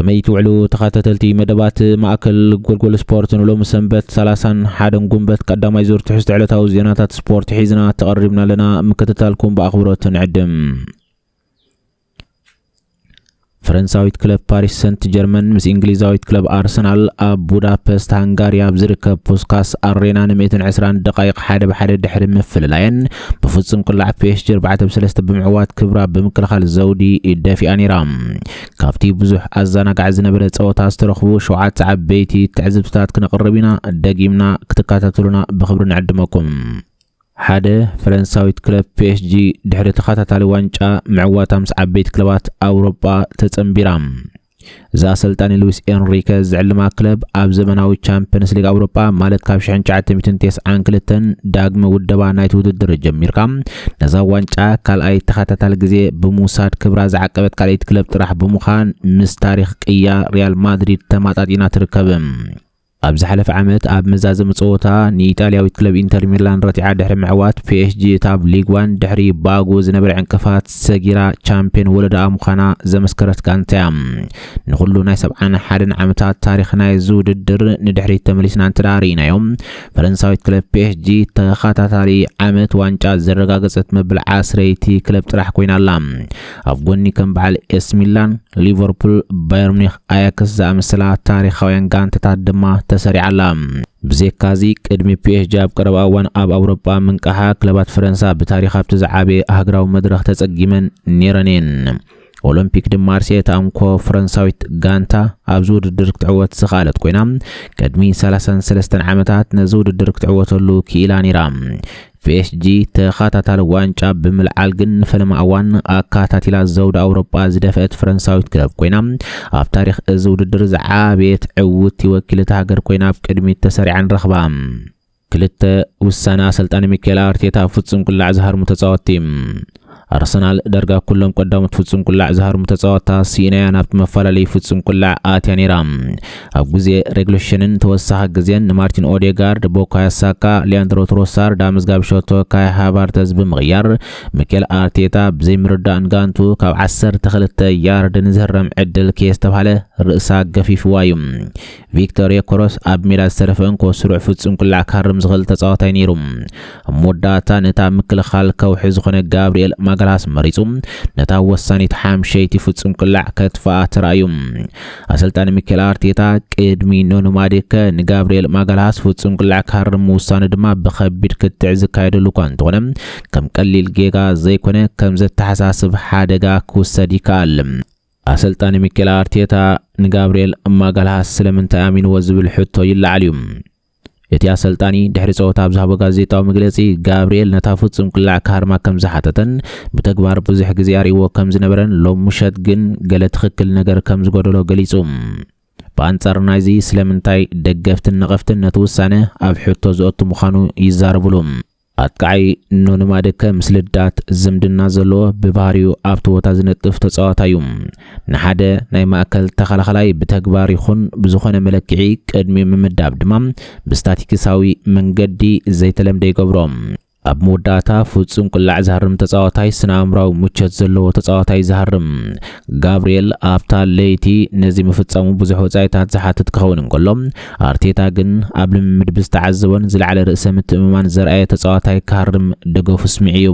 ከመይ ትውዕሉ ተኸታተልቲ መደባት ማእከል ጎልጎል ስፖርት ንሎሚ ሰንበት 30 ሓደን ጉንበት ቀዳማይ ዙር ትሕዝቶ ዕለታዊ ዜናታት ስፖርት ሒዝና ተቐሪብና ኣለና ምክትታልኩም ብኣኽብሮት ንዕድም ፈረንሳዊት ክለብ ፓሪስ ሰንት ጀርመን ምስ እንግሊዛዊት ክለብ ኣርሰናል ኣብ ቡዳፐስት ሃንጋሪ ኣብ ዝርከብ ፑስካስ ኣሬና ን120 ደቃይቕ ሓደ ብሓደ ድሕሪ ምፍልላየን ብፍጹም ቅላዕ ፒኤስጂ ኣርባዕተ ብ ሰለስተ ብምዕዋት ክብራ ኣብ ብምክልኻል ዘውዲ ደፊኣ ነይራ። ካብቲ ብዙሕ ኣዘናጋዒ ዝነበረ ጸወታ ዝተረኽቡ ሸውዓተ ዓበይቲ ትዕዝብትታት ክነቕርብ ኢና፣ ደጊምና ክትከታተሉና ብኽብሪ ንዕድመኩም። ሓደ፣ ፈረንሳዊት ክለብ ፒኤስጂ ድሕሪ ተኸታታሊ ዋንጫ ምዕዋታ ምስ ዓበይቲ ክለባት ኣውሮጳ ተጸንቢራ። እዚ ኣሰልጣኒ ሉዊስ ኤንሪከ ዝዕልማ ክለብ ኣብ ዘመናዊ ቻምፕንስ ሊግ ኣውሮጳ ማለት ካብ 1992 ዳግመ ውደባ ናይቲ ውድድር ጀሚርካ ነዛ ዋንጫ ካልኣይ ተኸታታሊ ግዜ ብምውሳድ ክብራ ዝዓቀበት ካልኣይቲ ክለብ ጥራሕ ብምዃን ምስ ታሪኽ ቅያ ሪያል ማድሪድ ተማጣጢና ትርከብ። ኣብ ዝሓለፈ ዓመት ኣብ መዛዘሚ ጸወታ ንኢጣልያዊት ክለብ ኢንተር ሚላን ረቲዓ ድሕሪ ምዕዋት፣ ፒኤስጂ እታ ኣብ ሊግ ዋን ድሕሪ ባጉ ዝነበረ ዕንቅፋት ሰጊራ ቻምፕዮን ወለዳኣ ምዃና ዘመስከረት ጋንታ'ያ። ንኹሉ ናይ ሰብዓን ሓደን ዓመታት ታሪኽ ናይዚ ውድድር ንድሕሪት ተመሊስና እንተደኣ ርኢናዮ፣ ፈረንሳዊት ክለብ ፒኤስጂ ተኸታታሊ ዓመት ዋንጫ ዘረጋገጸት መበል ዓስረይቲ ክለብ ጥራሕ ኮይና ኣላ። ኣብ ጎኒ ከም በዓል ኤስ ሚላን፣ ሊቨርፑል፣ ባየር ሙኒክ፣ ኣያክስ ዝኣመሰላ ታሪኻውያን ጋንታታት ድማ ተሰሪዓ ኣላ። ብዘካዚ ቅድሚ ፒኤስጂ ኣብ ቀረባ እዋን ኣብ ኣውሮጳ ምንቃሓ ክለባት ፈረንሳ ብታሪኽ ኣብቲ ዝዓበየ ሃገራዊ መድረኽ ተጸጊመን ነይረን እየን። ኦሎምፒክ ድማ ኣርሴ እታ እንኮ ፈረንሳዊት ጋንታ ኣብዚ ውድድር ክትዕወት ዝኽኣለት ኮይና ቅድሚ 33 ዓመታት ነዚ ውድድር ክትዕወተሉ ክኢላ ነይራ። ፒኤስጂ ተኸታታሊ ዋንጫ ብምልዓል ግን ንፈለማ እዋን ኣካታቲላ ዘውዲ ኣውሮጳ ዝደፈአት ፈረንሳዊት ክለብ ኮይና ኣብ ታሪክ እዚ ውድድር ዝዓበየት ዕውቲ ወኪልቲ ሃገር ኮይና ኣብ ቅድሚት ተሰሪዓ ንረኽባ። ክልተ ውሳነ ኣሰልጣኒ ሚካኤል ኣርቴታ ፍጹም ቅላዕ ዝሃርሙ ተጻወትቲ ኣርሰናል ዳርጋ ኩሎም ቀዳሞት ፍጹም ቁላዕ ዝሃርሙ ተጻወታ ሲኢናያ ናብቲ መፈላለዩ ፍጹም ቁላዕ ኣትያ ነይራ። ኣብ ግዜ ሬግሎሽንን ተወሳኺ ግዜን ንማርቲን ኦዴጋርድ፣ ቦካዮ ሳካ፣ ሊያንድሮ ትሮሳር፣ ዳምዝ ጋብሾቶ፣ ካይ ሃቫርተዝ ብምቕያር ሚኬል ኣርቴታ ብዘይምርዳእን ጋንቱ ካብ ዓሰርተ ክልተ ያርድ ንዝህረም ዕድል ከየስተብሃለ ርእሳ ገፊፍዋ እዩ። ቪክቶር ዮከረስ ኣብ ሜዳ ዝተረፈ እንኮ ስሩዕ ፍጹም ቅላዕ ክሃርም ዝኽእል ተጻዋታይ ነይሩ። ኣብ መወዳእታ ነታ ኣብ ምክልኻል ከውሒ ዝኾነ ጋብሪኤል ማጋልሃስ መሪጹ ነታ ወሳኒት ሓምሸይቲ ፍጹም ቅላዕ ከጥፍኣ ተራእዩ። ኣሰልጣኒ ሚኬል ኣርቴታ ቅድሚ ኖኖ ማድከ ንጋብሪኤል ማጋልሃስ ፍጹም ቅላዕ ክሃርም ምውሳኑ ድማ ብኸቢድ ክትዕ ዝካየደሉ እኳ እንተኾነ ከም ቀሊል ጌጋ ዘይኮነ ከም ዘተሓሳስብ ሓደጋ ክውሰድ ይከኣል። ኣሰልጣኒ ሚኬል ኣርቴታ ንጋብርኤል ማጋልሃስ ስለምንታይ ኣሚንዎ ዝብል ሕቶ ይለዓል እዩ። እቲ ኣሰልጣኒ ድሕሪ ጸወታ ኣብ ዝሃቦ ጋዜጣዊ መግለጺ ጋብርኤል ነታ ፍጹም ቅላዕ ክሃርማ ከም ዝሓተተን ብተግባር ብዙሕ ግዜ ኣርእይዎ ከም ዝነበረን ሎሚ ምሸት ግን ገለ ትኽክል ነገር ከም ዝጎደሎ ገሊጹ። ብኣንጻር ናይዚ ስለምንታይ ደገፍትን ነቐፍትን ነቲ ውሳነ ኣብ ሕቶ ዘእቱ ምዃኑ ይዛረብሉ። ኣጥቃዓይ ኖኒ ማድከ ምስ ልዳት ዝምድና ዘለዎ ብባህሪኡ ኣብቲ ቦታ ዝነጥፍ ተጻዋታይ'ዩ። ንሓደ ናይ ማእከል ተኸላኸላይ ብተግባር ይኹን ብዝኾነ መለክዒ ቅድሚኡ ምምዳብ ድማ ብስታቲክሳዊ መንገዲ ዘይተለምደ ይገብሮ። ኣብ መወዳእታ ፍጹም ቅላዕ ዝሃርም ተጻዋታይ ስነ-ኣእምራዊ ምቾት ዘለዎ ተጻዋታይ ዝሃርም። ጋብርኤል ኣብታ ለይቲ ነዚ ምፍጻሙ ብዙሕ ወጻኢታት ዝሓትት ክኸውን እንከሎ፣ ኣርቴታ ግን ኣብ ልምምድ ብዝተዓዘቦን ዝለዓለ ርእሰ ምትእምማን ዘርኣየ ተጻዋታይ ክሃርም ደገፉ ኣስሚዑ'ዩ።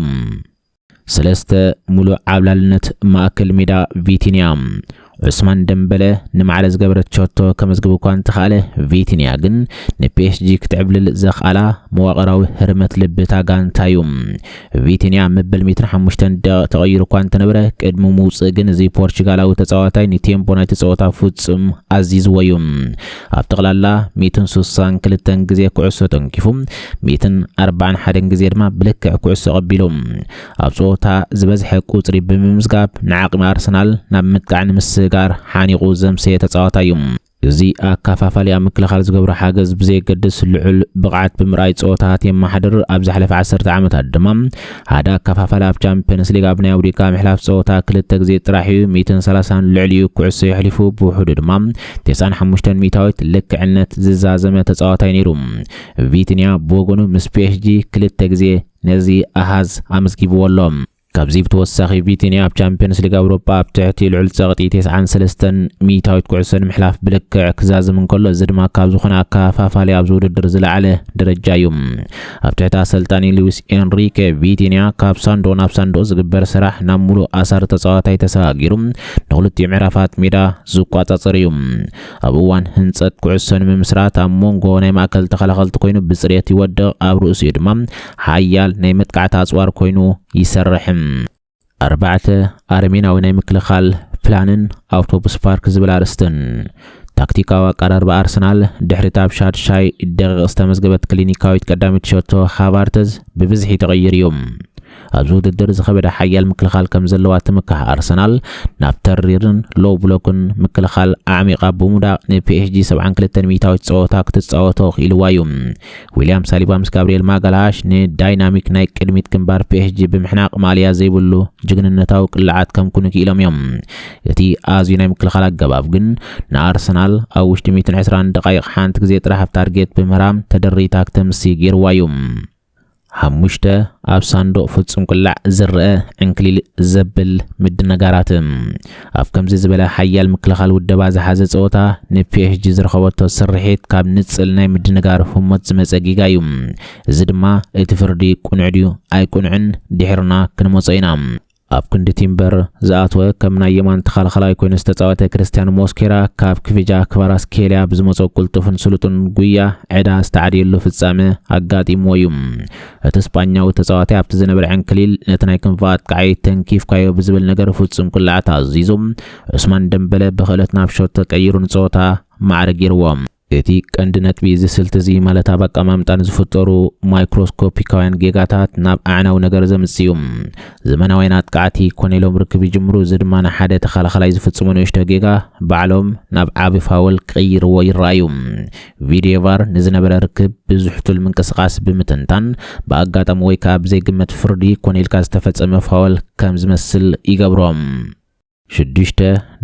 ሰለስተ፣ ሙሉእ ዓብላልነት ማእከል ሜዳ ቪቲንያ ዑስማን ደምበለ ንማዕረ ዝገበረት ሸቶ ከመዝግብ እኳ እንተኻእለ ቪቲንያ ግን ንፒኤስጂ ክትዕብልል ዘኽኣላ መዋቕራዊ ህርመት ልቢ እታ ጋንታ እዩ። ቪቲንያ ኣብ መበል ሜትሮ ሓሙሽተን ደቂቕ ተቐይሩ እኳ እንተነበረ ቅድሚ ምውፅእ ግን እዚ ፖርቹጋላዊ ተፃዋታይ ንቴምፖ ናይቲ ፀወታ ፍፁም ኣዚዝዎ እዩ። ኣብ ጠቕላላ ሚእትን ስሳን ክልተን ግዜ ኩዕሶ ተንኪፉ፣ ሚእትን ኣርባዓን ሓደን ግዜ ድማ ብልክዕ ኩዕሶ ኣቐቢሉ ኣብ ፀወታ ዝበዝሐ ቁፅሪ ብምምዝጋብ ንዓቕሚ ኣርሰናል ናብ ምጥቃዕ ንምስግጋር ሓኒቑ ዘምሰየ ተፃዋታይ እዩ። እዚ ኣካፋፋሊ ኣብ ምክልኻል ዝገብሮ ሓገዝ ብዘየገድስ ልዑል ብቕዓት ብምርኣይ ጸወታታት የመሓድር፣ ኣብ ዝሓለፈ ዓሰርተ ዓመታት ድማ ሓደ ኣካፋፋሊ ኣብ ቻምፕዮንስ ሊግ ኣብ ናይ ኣውዲካ ምሕላፍ ጸወታ ክልተ ግዜ ጥራሕ እዩ ሚእትን ሰላሳን ልዕሊኡ ኩዕሶ የሕሊፉ፣ ብውሑዱ ድማ ቴስዓን ሓሙሽተን ሚእታዊት ልክዕነት ዝዛዘመ ተጻዋታይ ነይሩ። ቪትንያ ብወገኑ ምስ ፒኤስጂ ክልተ ግዜ ነዚ ኣሃዝ ኣመዝጊብዎ ኣሎ። ካብዚ ብተወሳኺ ቪቲንያ ኣብ ቻምፕዮንስ ሊግ ኣውሮጳ ኣብ ትሕቲ ልዑል ጸቕጢ ቴስዓን ሰለስተን ሚእታዊት ኩዕሶ ንምሕላፍ ብልክዕ ክዛዝም እንከሎ እዚ ድማ ካብ ዝኾነ ኣከፋፋሊ ኣብዚ ውድድር ዝለዓለ ደረጃ እዩ። ኣብ ትሕቲ ኣሰልጣኒ ሉዊስ ኤንሪኬ ቪቲንያ ካብ ሳንዶ ናብ ሳንዶ ዝግበር ስራሕ ናብ ሙሉእ ኣሳሪ ተጻዋታይ ተሰጋጊሩ ንክልቲኡ ምዕራፋት ሜዳ ዝቋጻጸር እዩ። ኣብ እዋን ህንጸት ኩዕሶ ንምምስራት ኣብ ሞንጎ ናይ ማእከል ተኸላኸልቲ ኮይኑ ብጽሬት ይወድቕ፣ ኣብ ርእሲኡ ድማ ሓያል ናይ መጥቃዕቲ ኣጽዋር ኮይኑ ይሰርሕ። ኣርባዕተ፣ ኣረሜናዊ ናይ ምክልኻል ፕላንን ኣውቶቡስ ፓርክ ዝብል ኣርእስትን። ታክቲካዊ ኣቀራርባ ኣርሰናል ድሕሪታ ኣብ ሻድሻይ ደቂቕ ዝተመዝገበት ክሊኒካዊት ቀዳመይቲ ሸቶ ሃቫርተዝ ብብዝሒ ተቐይሩ እዩ። ኣብዚ ውድድር ዝኸበደ ሓያል ምክልኻል ከም ዘለዋ እትምካሕ ኣርሰናል፣ ናብ ተሪርን፣ ሎው ብሎክን፣ ምክልኻል ኣዕሚቓ ብምውዳቕ ንፒኤስጂ ሰብዓን ክልተን ሚኢታዊት ጸወታ ክትጻወቶ ክኢልዋ እዩ። ዊልያም ሳሊባ ምስ ጋብሪኤል ማጋልሃሽ ንዳይናሚክ ናይ ቅድሚት ግንባር ፒኤስጂ ብምሕናቕ ማልያ ዘይብሉ ጅግንነታዊ ቅላዓት ከምኩኑ ክኢሎም እዮም። እቲ ኣዝዩ ናይ ምክልኻል ኣገባብ ግን ንኣርሰናል ኣብ ውሽጢ ሚእትን ዕስራን ደቓይቕ ሓንቲ ግዜ ጥራሕ ኣብ ታርጌት ብምህራም ተደሪታ ክተምሲ ገይርዋ እዩ። ሓሙሽተ፣ ኣብ ሳንዱቕ ፍጹም ቅላዕ ዝረኣ ዕንክሊል ዘብል ምድንጋራት። ኣብ ከምዚ ዝበለ ሓያል ምክልኻል ውደባ ዝሓዘ ጸወታ፣ ንፒኤስጂ ዝረኸበቶ ስርሒት ካብ ንጽል ናይ ምድንጋር ህሞት ዝመጸ ጌጋ እዩ። እዚ ድማ እቲ ፍርዲ ቅኑዕ ድዩ ኣይቅኑዕን ድሒርና ክንመጾ ኢና። ኣብ ክንዲ ቲምበር ዝኣተወ ከም ናይ የማን ተኸላኸላይ ኮይኑ ዝተፃወተ ክርስቲያን ሞስኬራ ካብ ክቪጃ ክቫራስኬልያ ብዝመፆ ቅልጡፍን ስሉጡን ጉያ ዕዳ ዝተዓድየሉ ፍጻመ ኣጋጢምዎ እዩ። እቲ ስጳኛዊ ተፃዋታይ ኣብቲ ዝነበረ ዕንክሊል ነቲ ናይ ክንፊ ኣጥቃዓይ ተንኪፍካዮ ብዝብል ነገር ፍጹም ቅላዕ ተኣዚዙ ዑስማን ደምበለ ብክእለት ናብ ሾት ተቀይሩ ንፀወታ ማዕረ ገይርዎ። እቲ ቀንዲ ነጥቢ እዚ ስልቲ እዚ ማለት ኣብ ኣቀማምጣ ንዝፍጠሩ ማይክሮስኮፒካውያን ጌጋታት ናብ ኣዕናዊ ነገር ዘምጽእ እዩ። ዘመናውያን ኣጥቃዕቲ ኮነ ኢሎም ርክብ ይጅምሩ፣ እዚ ድማ ንሓደ ተኸላኸላይ ዝፍጽሞ ንእሽቶ ጌጋ ባዕሎም ናብ ዓቢ ፋወል ክቕይርዎ ይረኣዩ። ቪድየቫር ንዝነበረ ርክብ ብዝሕቱል ምንቅስቓስ ብምትንታን፣ ብኣጋጣሚ ወይ ከኣ ብዘይግመት ፍርዲ ኮነ ኢልካ ዝተፈጸመ ፋወል ከም ዝመስል ይገብሮ። ሽዱሽተ፣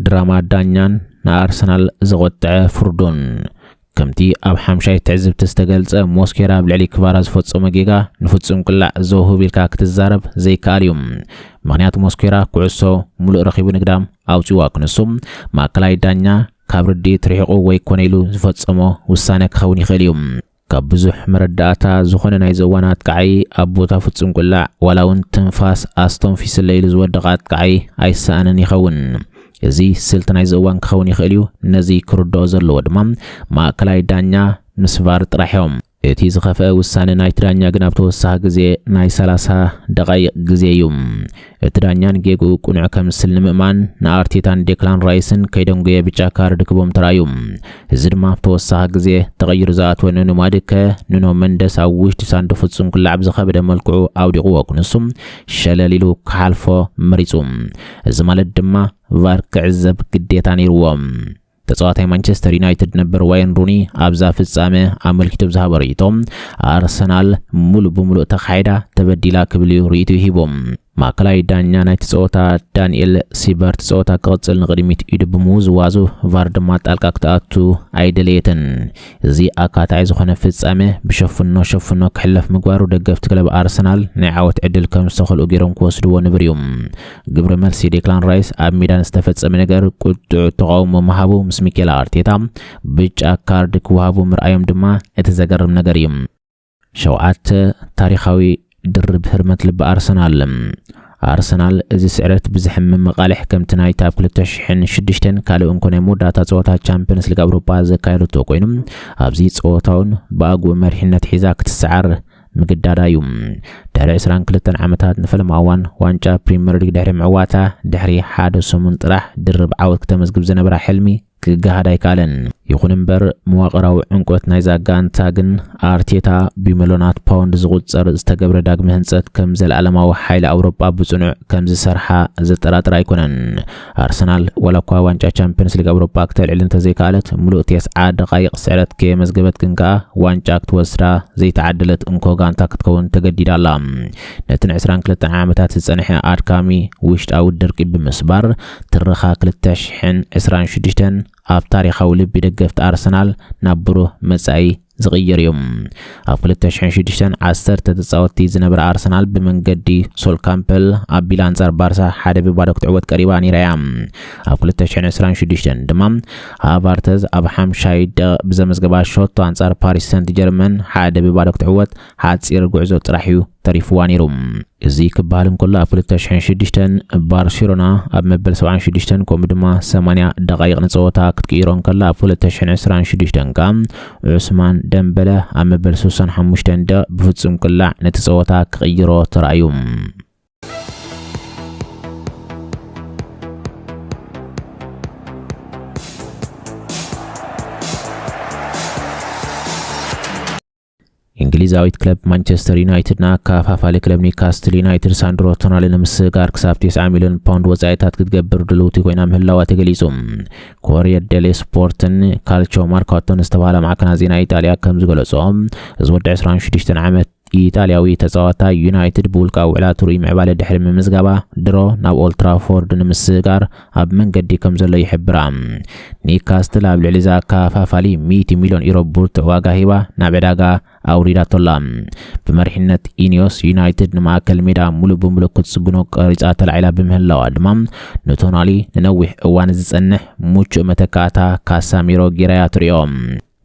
ድራማ ዳኛን ንኣርሰናል ዘቖጥዐ ፍርዱን። ከምቲ ኣብ ሓምሻይ ትዕዝብቲ ዝተገልጸ ሞስኬራ ኣብ ልዕሊ ክቫራ ዝፈጸሞ ጌጋ ንፍጹም ቅላዕ ዘውህብ ኢልካ ክትዛረብ ዘይከኣል እዩ። ምኽንያት ሞስኬራ ኩዕሶ ምሉእ ረኺቡ ንግዳም ኣውጺእዋ ክንሱ ማእከላይ ዳኛ ካብ ርድኢት ርሒቑ ወይ ኮነ ኢሉ ዝፈጸሞ ውሳነ ክኸውን ይኽእል እዩ። ካብ ብዙሕ መረዳእታ ዝኾነ ናይ ዘዋን ኣጥቃዒ ኣብ ቦታ ፍጹም ቁላዕ ዋላ እውን ትንፋስ ኣስተንፊስለ ኢሉ ዝወደቐ ኣጥቃዒ ኣይሰኣንን ይኸውን። እዚ ስልቲ ናይ ዘዋን ክኸውን ይኽእል እዩ፣ ነዚ ክርድኦ ዘለዎ ድማ ማእከላይ ዳኛ ምስ ቫር ጥራሕ እዮም። እቲ ዝኸፍአ ውሳነ ናይቲ ዳኛ ግን ኣብ ተወሳኺ ግዜ ናይ ሰላሳ ደቓይቕ ግዜ እዩ። እቲ ዳኛ ንጌግኡ ቅኑዕ ከምስል ንምእማን ንኣርቴታን ዴክላን ራይስን ከይደንጎየ ብጫ ካርድ ክቦም ተራእዩ። እዚ ድማ ኣብ ተወሳኺ ግዜ ተቐይሩ ዝኣትወ ኑኑ ማድከ፣ ኑኖ መንደስ ኣብ ውሽጢ ሳንዱ ፍጹም ክላዕ ብዝኸበደ መልክዑ ኣውዲቕዎ ክንሱ ሸለል ኢሉ ክሓልፎ መሪጹ። እዚ ማለት ድማ ቫር ክዕዘብ ግዴታ ነይርዎ። ተጻዋታይ ማንቸስተር ዩናይትድ ነበር ዋይን ሩኒ ኣብዛ ፍጻመ ኣመልኪቱ ብዝሃቦ ርእይቶ ኣርሰናል ሙሉእ ብምሉእ ተኻሒዳ ተበዲላ ክብል እዩ ርእይቱ ሂቡ። ማእከላይ ዳኛ ናይቲ ጸወታ ዳንኤል ሲበርት ጸወታ ክቕጽል ንቕድሚት ኢዱ ብምውዝዋዙ ቫር ድማ ጣልቃ ክትኣቱ ኣይደለየትን። እዚ ኣካታዒ ዝኾነ ፍጻመ ብሸፍኖ ሸፍኖ ክሕለፍ ምግባሩ ደገፍቲ ክለብ ኣርሰናል ናይ ዓወት ዕድል ከም ዝተኸልኡ ገይሮም ክወስድዎ ንብር እዩ። ግብረ መልሲ ዴክላን ራይስ ኣብ ሜዳ ንዝተፈጸመ ነገር ቁጡዕ ተቓውሞ ምሃቡ ምስ ሚኬላ ኣርቴታ ብጫ ካርድ ክወሃቡ ምርኣዮም ድማ እቲ ዘገርም ነገር እዩ። ሸውዓተ፣ ታሪኻዊ ድርብ ህርመት ልቢ ኣርሰናል። ኣርሰናል እዚ ስዕረት ብዘሕምም መቓልሕ ከምቲ ናይቲ ኣብ ክልተ ሽሕን ሽዱሽተን ካልእ እንኮ ናይ መወዳእታ ጸወታ ቻምፕዮንስ ሊግ ኣውሮጳ ዘካየደቶ ኮይኑ ኣብዚ ጸወታውን ብኣግኡ መሪሕነት ሒዛ ክትሰዓር ምግዳዳ እዩ። ድሕሪ 22 ዓመታት ንፈለማ እዋን ዋንጫ ፕሪምየር ሊግ ድሕሪ ምዕዋታ ድሕሪ ሓደ ሰሙን ጥራሕ ድርብ ዓወት ክተመዝግብ ዝነበራ ሕልሚ ክገሃድ ኣይከኣለን። ይኹን እምበር መዋቕራዊ ዕምቆት ናይዛ ጋንታ ግን ኣርቴታ ብሚሎናት ፓውንድ ዝቑጸር ዝተገብረ ዳግመ ህንጸት ከም ዘለኣለማዊ ሓይሊ ኣውሮጳ ብጽኑዕ ከም ዝሰርሓ ዘጠራጥር ኣይኮነን። ኣርሰናል ዋላ እኳ ዋንጫ ቻምፕዮንስ ሊግ ኣውሮጳ ክተልዕል እንተዘይከኣለት ምሉእ ቴስዓ ደቓይቕ ስዕረት ከየመዝገበት ግን ከኣ ዋንጫ ክትወስዳ ዘይተዓደለት እንኮ ጋንታ ክትከውን ተገዲዳ ኣላ። ነቲ ን22 ዓመታት ዝጸንሐ ኣድካሚ ውሽጣዊ ድርቂ ብምስባር ትረኻ ክልተ ሽሕን ዕስራን ሽዱሽተን ኣብ ታሪኻዊ ልቢ ደገፍቲ ኣርሰናል ናብ ብሩህ መጻኢ ዝቕየር እዩ። ኣብ ክልተ ሽሕን ሽዱሽተን ዓሰርተ ተጻወትቲ ዝነበራ ኣርሰናል ብመንገዲ ሶል ካምፐል ኣቢላ ኣንጻር ባርሳ ሓደ ብባዶ ክትዕወት ቀሪባ ነይራ እያ። ኣብ ክልተ ሽሕን ዕስራን ሽዱሽተን ድማ ሃቫርተዝ ኣብ ሓምሻይ ደቂቕ ብዘመዝገባ ሸቶ ኣንጻር ፓሪስ ሰንት ጀርመን ሓደ ብባዶ ክትዕወት ሓጺር ጉዕዞ ጥራሕ እዩ ተሪፍዋ ነይሩ። እዚ ክበሃል እንከሎ ኣብ ክልተ ሽሕን ሽዱሽተን ባርሴሎና ኣብ መበል ሰብዓን ሽዱሽተን ከምኡ ድማ ሰማንያ ደቓይቕ ንጸወታ ክትቅይሮ እንከላ ኣብ ክልተ ሽሕን ዕስራን ሽዱሽተን ከኣ ዑስማን ደምበለ ኣብ መበል ስሳን ሓሙሽተን ደቕ ብፍጹም ቅላዕ ነቲ ጸወታ ክቕይሮ ተራእዩ። እንግሊዛዊት ክለብ ማንቸስተር ዩናይትድ ንኣከፋፋሊ ክለብ ኒውካስትል ዩናይትድ ሳንድሮ ቶናሊ ንምስግጋር ክሳብ 90 ሚልዮን ፓውንድ ወጻኢታት ክትገብር ድልውቲ ኮይና ምህላዋ ተገሊጹ። ኮሪየር ዴሌ ስፖርትን ካልቾ ማርካቶን ዝተባሃላ ማዕከናት ዜና ኢጣልያ ከም ዝገለጾ እዚ ወዲ 26 ዓመት ኢጣልያዊ ተጻዋታ ዩናይትድ ብውልቃዊ ውዕላቱ ርኡይ ምዕባለ ድሕሪ ምምዝጋባ ድሮ ናብ ኦልትራፎርድ ንምስግጋር ኣብ መንገዲ ከምዘሎ ይሕብራ። ኒካስትል ኣብ ልዕሊ እዚ ኣከፋፋሊ ሚእቲ ሚልዮን ዩሮ ብርቱዕ ዋጋ ሂባ ናብ ዕዳጋ ኣውሪዳቶ ኣላ። ብመሪሕነት ኢኒዮስ፣ ዩናይትድ ንማእከል ሜዳ ምሉእ ብምሉእ ክትጽግኖ ቀሪጻ ተላዒላ ብምህላዋ ድማ ንቶናሊ ንነዊሕ እዋን ዝጸንሕ ምቹእ መተካእታ ካሳሚሮ ጌራ'ያ ትርእዮ።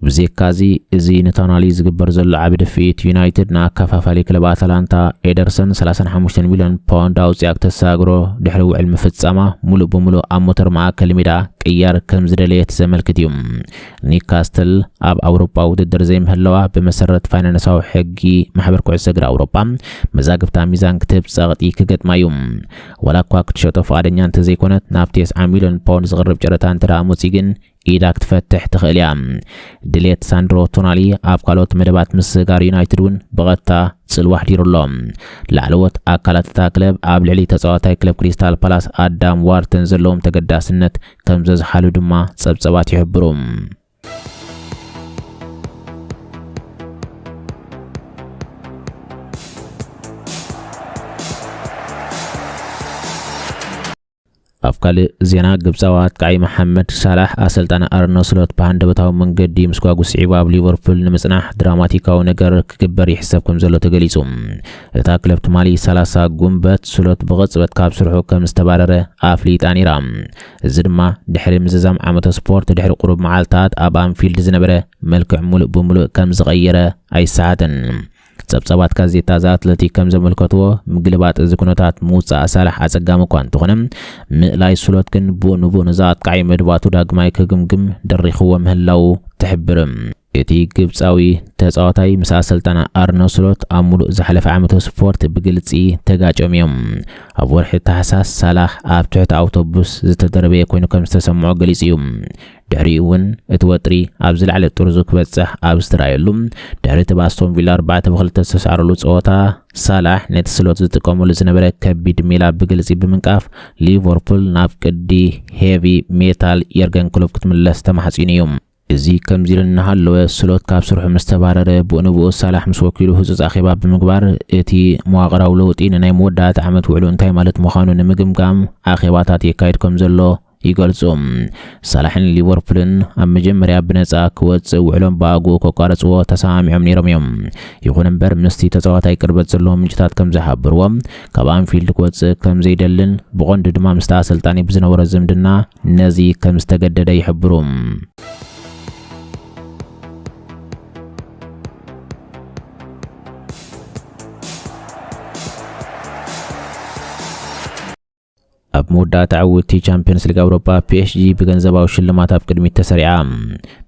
ብዜካዚ እዚ ንቶናሊ ዝግበር ዘሎ ዓቢ ድፍኢት፣ ዩናይትድ ንኣከፋፋሊ ክለብ ኣታላንታ ኤደርሰን ሰላሳን ሓሙሽተን ሚልዮን ፓውንድ ኣውጺኣ ክተሰጋግሮ ድሕሪ ውዕል ምፍጻማ፣ ምሉእ ብምሉእ ኣብ ሞተር ማእከል ሜዳ ቅያር ከምዝደለየት ዘመልክት እዩ። ኒውካስትል ኣብ ኣውሮጳዊ ውድድር ዘይምህላዋ ብመሰረት ፋይናንሳዊ ሕጊ ማሕበር ኩዕሶ እግሪ ኣውሮጳ መዛግብታ ሚዛን ክትህብ ጸቕጢ ክገጥማ እዩ። ዋላኳ ክትሸጦ ፍቓደኛ እንተዘይኮነት፣ ናብ ቴስዓ ሚልዮን ፓውንድ ዝቕርብ ጨረታ እንተደኣ ኣመጽዩ ግን ኢዳ ክትፈትሕ ትኽእል እያ። ድሌት ሳንድሮ ቶናሊ ኣብ ካልኦት መደባት ምስግጋር ዩናይትድ እውን ብቐጥታ ጽልዋ ኣሕዲሩ ኣሎ። ላዕለዎት ኣካላት እታ ክለብ ኣብ ልዕሊ ተጻዋታይ ክለብ ክሪስታል ፓላስ ኣዳም ዋርተን ዘለዎም ተገዳስነት ከምዘዝሓሉ ድማ ጸብጸባት ይሕብሩ። ኣብ ካልእ ዜና ግብጻዊ ኣጥቃዒ መሓመድ ሳላሕ ኣሰልጣኒ ኣርነ ስሎት ብሃንደበታዊ መንገዲ ምስ ጓጉ ስዒቡ ኣብ ሊቨርፑል ንምጽናሕ ድራማቲካዊ ነገር ክግበር ይሕሰብ ከም ዘሎ ተገሊጹ። እታ ክለብ ትማሊ ሰላሳ ጉንበት ስሎት ብቕጽበት ካብ ስርሑ ከም ዝተባረረ ኣፍሊጣ ነይራ። እዚ ድማ ድሕሪ ምዝዛም ዓመተ ስፖርት ድሕሪ ቁሩብ መዓልታት ኣብ ኣንፊልድ ዝነበረ መልክዕ ምሉእ ብምሉእ ከም ዝቐየረ ኣይሰሓትን። ጸብጻባት ጋዜጣ ዘ ኣትለቲክ ከም ዘመልከትዎ፣ ምግልባጥ እዚ ኩነታት ምውጻእ ሳላሕ ኣጸጋሚ እኳ እንተኾነ፣ ምእላይ ስሎት ግን ቡእ ንቡእ ነዛ ኣጥቃዒ መድባቱ ዳግማይ ክግምግም ደሪኽዎ ምህላዉ ትሕብር። እቲ ግብጻዊ ተጻዋታይ ምስ ኣሰልጣኒ ኣርነ ስሎት ኣብ ምሉእ ዝሓለፈ ዓመተ ስፖርት ብግልጺ ተጋጭዮም እዮም። ኣብ ወርሒ ታሕሳስ፣ ሳላሕ ኣብ ትሕቲ ኣውቶቡስ ዝተደርበየ ኮይኑ ከም ዝተሰምዖ ገሊጹ እዩ። ድሕሪኡ እውን እቲ ወጥሪ ኣብ ዝለዓለ ጥርዙ ክበጽሕ ኣብ ዝተራእየሉ፣ ድሕሪ እቲ ብኣስቶን ቪላ ኣርባዕተ ብ ክልተ ዝተሳዕረሉ ጸወታ፣ ሳላሕ ነቲ ስሎት ዝጥቀመሉ ዝነበረ ከቢድ ሜላ ብግልጺ ብምንቃፍ፣ ሊቨርፑል ናብ ቅዲ ሄቪ ሜታል የርገን ክሎፕ ክትምለስ ተማሕጺኑ እዩ። እዚ ከምዚ ኢሉ እናሃለወ፣ ስሎት ካብ ስርሑ ምስ ተባረረ፣ ብኡንብኡ ሳላሕ ምስ ወኪሉ ህጹጽ ኣኼባ ብምግባር፣ እቲ መዋቕራዊ ለውጢ ንናይ መወዳእታ ዓመት ውዕሉ እንታይ ማለት ምዃኑ ንምግምጋም ኣኼባታት የካይድ ከም ዘሎ ይገልጹ። ሳላሕን ሊቨርፑልን ኣብ መጀመርያ ብነጻ ክወጽእ ውዕሎም ብኣግኡ ከቋርጽዎ ተሰማሚዖም ነይሮም እዮም። ይኹን እምበር ምስቲ ተጻዋታይ ቅርበት ዘለዎም ምንጭታት ከም ዝሓበርዎ ካብ ኣንፊልድ ክወጽእ ከም ዘይደልን ብቐንዱ ድማ ምስቲ ኣሰልጣኒ ብዝነበሮ ዝምድና ነዚ ከም ዝተገደደ ይሕብሩ። ኣብ መወዳእታ ዕውትቲ ቻምፒዮንስ ሊግ ኣውሮጳ ፒኤስጂ ብገንዘባዊ ሽልማት ኣብ ቅድሚት ተሰሪዓ።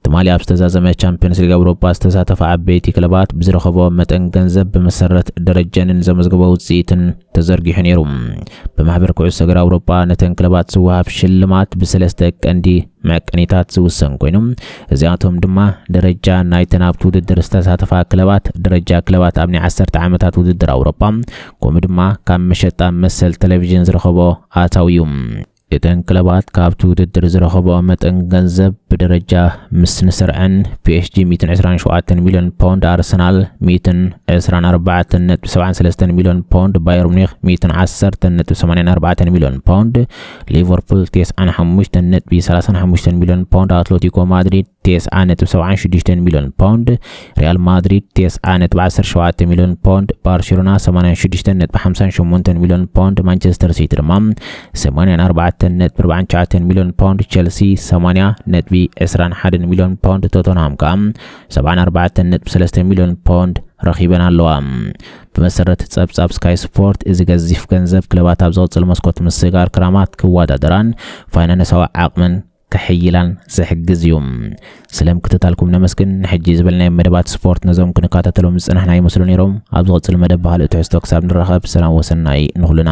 ትማሊ ኣብ ዝተዛዘመ ቻምፒዮንስ ሊግ ኣውሮጳ ዝተሳተፋ ዓበይቲ ክለባት ብዝረኸቦ መጠን ገንዘብ ብመሰረት ደረጀንን ዘመዝግቦ ውፅኢትን ተዘርጊሑ ነይሩ። ብማሕበር ኩዕሶ እግሪ ኣውሮጳ ነተን ክለባት ዝወሃብ ሽልማት ብሰለስተ ቀንዲ መቀኒታት ዝውሰን ኮይኑ እዚኣቶም ድማ ደረጃ ናይተን ኣብቲ ውድድር ዝተሳተፋ ክለባት፣ ደረጃ ክለባት ኣብ ናይ ዓሰርተ ዓመታት ውድድር ኣውሮጳ፣ ከምኡ ድማ ካብ መሸጣ መሰል ቴሌቪዥን ዝረኸቦ ኣታዊ እዩ። እተን ክለባት ካብቲ ውድድር ዝረኸቦኦ መጠን ገንዘብ ብደረጃ ምስ ንስርዐን፣ ፒኤስጂ ሚእትን ዕስራን ሸውዓተን ሚልዮን ፓውንድ፣ ኣርሰናል ሚእትን ዕስራን ኣርባዕተን ነጥቢ ሰብዓን ሰለስተን ሚልዮን ፓውንድ፣ ባየር ሙኒክ ሚእትን ዓሰርተን ነጥቢ ሰማንያን ኣርባዕተን ሚልዮን ፓውንድ፣ ሊቨርፑል ቴስዓን ሓሙሽተን ነጥቢ ሰላሳን ሓሙሽተን ሚልዮን ፓውንድ ኣትለቲኮ ማድሪድ ቴስዓ ነጥቢ ሰብዓን ሽዱሽተን ሚልዮን ፓውንድ ሪያል ማድሪድ ቴስዓ ነጥቢ ዓሰርተ ሸውዓተ ሚልዮን ፓውንድ ባርሴሎና ሰማንያን ሽዱሽተን ነጥቢ ሓምሳን ሸሞንተን ሚልዮን ፓውንድ ማንቸስተር ሲቲ ድማ ሰማንያን ኣርባዕተን ነጥቢ ኣርባዓን ትሽዓተን ሚልዮን ፓውንድ ቸልሲ ሰማንያ ነጥቢ ዕስራን ሓደን ሚልዮን ፓውንድ ቶተንሃም ከዓ ሰብዓን ኣርባዕተን ነጥቢ ሰለስተ ሚልዮን ፓውንድ ረኺበን ኣለዋ ብመሰረት ጸብጻብ ስካይ ስፖርት፣ እዚ ገዚፍ ገንዘብ ክለባት ኣብ ዝቕጽል መስኮት ምስጋር ክራማት ክወዳደራን ፋይናነሳዊ ዓቕመን ከሐይላን ዝሕግዝ እዩ። ስለ ምክትታልኩም ነመስግን። ንሕጂ ዝበልናዮም መደባት ስፖርት ነዞም ክንካታተሎም ዝጸናሕና ይመስሉ ነይሮም። ኣብ ዝቕጽል መደብ ብኻልእ ትሕዝቶ ክሳብ ንራኸብ ሰላም ወሰናይ ንኹልና።